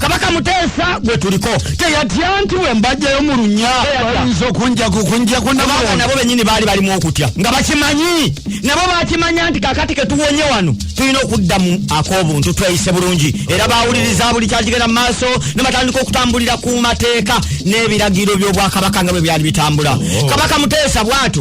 kabaka muteesa gwe tuliko teyatya nti bwe mbajjayo mu lunya bayinza okunjaku kunjaku nabanga nabo benyini baali balimu okutya nga bakimanyi nabo bakimanya nti kakati ketuwonye wano tulina okudda mu ak'obuntu tweyise bulungi era bawuliriza buli kyakigenda mu maaso ne batandika okutambulira ku mateeka n'ebiragiro by'obwakabaka nga bwe byali bitambula oh. kabaka muteesa bwatu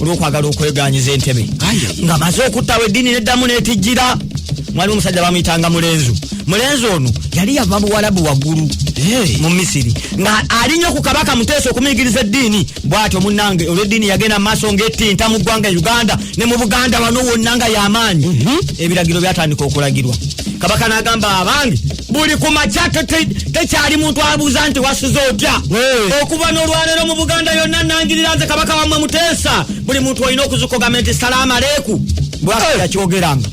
olwokwagala okweganyiza entebe nga maze okuttawo eddiini neddamu netijjira mwalimu omusajja bamuyitanga mulenzu mulenzi ono yali yava buwalabu waggulu mu misiri nga alinye ku kabaka muteesa okumuyigiriza eddiini bwatyo munange olweddiini yagenda maaso ngaettinta mu ggwanga uganda ne mu buganda wano wonna nga yamaanyi mhm. ebiragiro byatandika okulagirwa kabaka nagamba abange buli ku makya tekyali muntu abuuza nti wasuze otya okuva n'olwaleero mu buganda yonna nangirira nze kabaka wamwe muteesa buli muntu olina okuzukogamba nti salaama leeku bwakakyogeranga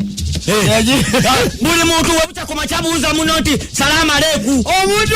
buli muntu webutakoma kyabuuza muno nti salaama leeku omuntu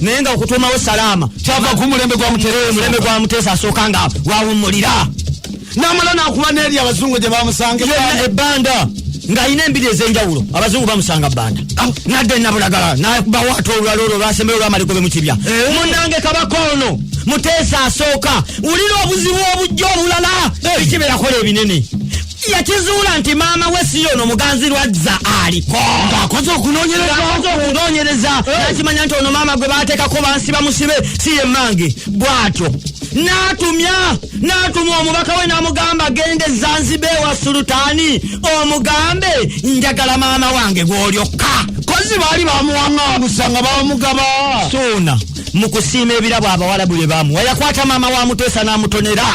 naye nga okutuumawo salaama kyava ku mulembe gwa mutemulembe gwa muteesa asooka nga wawummulira namala nakuba neri abazungu gye bamusanga ebbanda ng'alina embiri ez'enjawulo abazungu bamusanga bbanda ah. nadde nabulagala nabawaata olulala olwo lwasembeyo olwamaliko be mukibya eh. munange kabaka ono muteesa asooka wulira obuzibu obujja obulala eh. ekibeerakola ebinene yakizuula nti maama we si yono muganzi lwazza aliko ng'akoze okunoonyereza eh. nakimanya nti ono maama gwe baateekako bansi bamusibe si ye mmange bw'atyo n'atumya n'atuma omubaka we n'amugamba genda ezanziba ewa sulutaani omugambe njagala maama wange gw'olyokka kozi baali bamuwaŋŋangusa nga bamugaba suuna mu kusiima ebirabo abawalabu bye bamuwa yakwata maama wa muteesa n'amutonera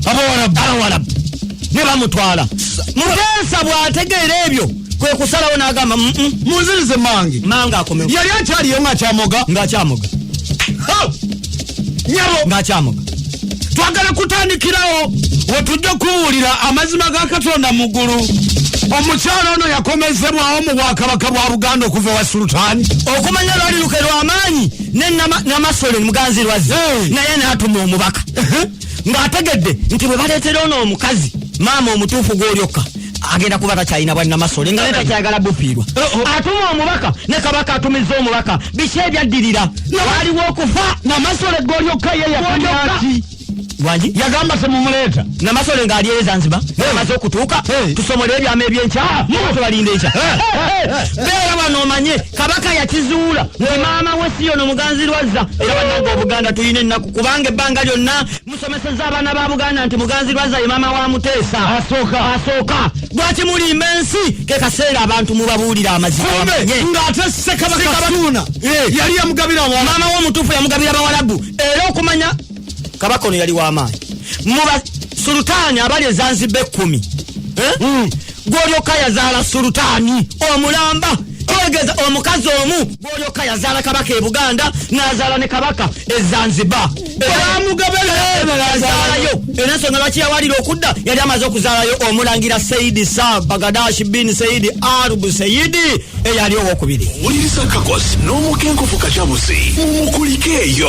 abawalabu ne bamutwala muteesa bw'ategeera ebyo kwe kusalawo n'agamba mm, mm. munzirize mange mange akomewo yali akyaliyo ng'akyamoga ng'akyamoga nyabo ng'akyamoga twagala kutandikirawo wetujja okubuulira amazima ga katonda mu ggulu omukyalo ono yakomezebwawo mu bwakabaka bwa buganda okuva ewa sultani okumanya lwali luke lwamaanyi nenamasole muganzi lwazi naye natuma omubaka ng'ategedde nti bwe baleetera ono omukazi maama omutuufu gw'olyokka agenda kuba takyalina bwannamasole nga netakyagala bufiirwa oh, oh. atuma omubaka ne kabaka atumiza omubaka biki ebyaddirira waliwo okufa namasole golyokka yeyakuaki wangi yagamba semumuleeta namasole ngaali ere zanziba amaze okutuuka tusomole ebyama ebyenkyamutubalinda ah, enkya beera wano omanye kabaka yakizuula nti maama we siyono muganzirwazza era banange obuganda tulina ennaku kubanga ebbanga lyonna tusomeseza abaana ba buganda nti muganzi lwaza ye maama wa muteesa asooka asooka lwaki mulimba ensi ke kaseera abantu mubabuulira amazima ng'ate sekabakasuuna eh. yali yamugabira abawala maama wo omutuufu yamugabira abawalabu era okumanya kabaka ono yali w'amaanyi muba sulutaani abali ezanziba ekkumi eh? hmm. gwolyoka yazaala sulutaani omulamba kitegeeza omukazi omu gwolyoka yazaala kabaka e buganda nazaala ne kabaka e zanzibar bamugabelazaalayo era ensonga lwaki yawalira okudda yali amaze okuzaalayo omulangira saidi sa bagadashi bin saidi arubu saidi eyali owokubiri wuliriza kakos n'omukenkufu kacabuzi mumukulikeeyo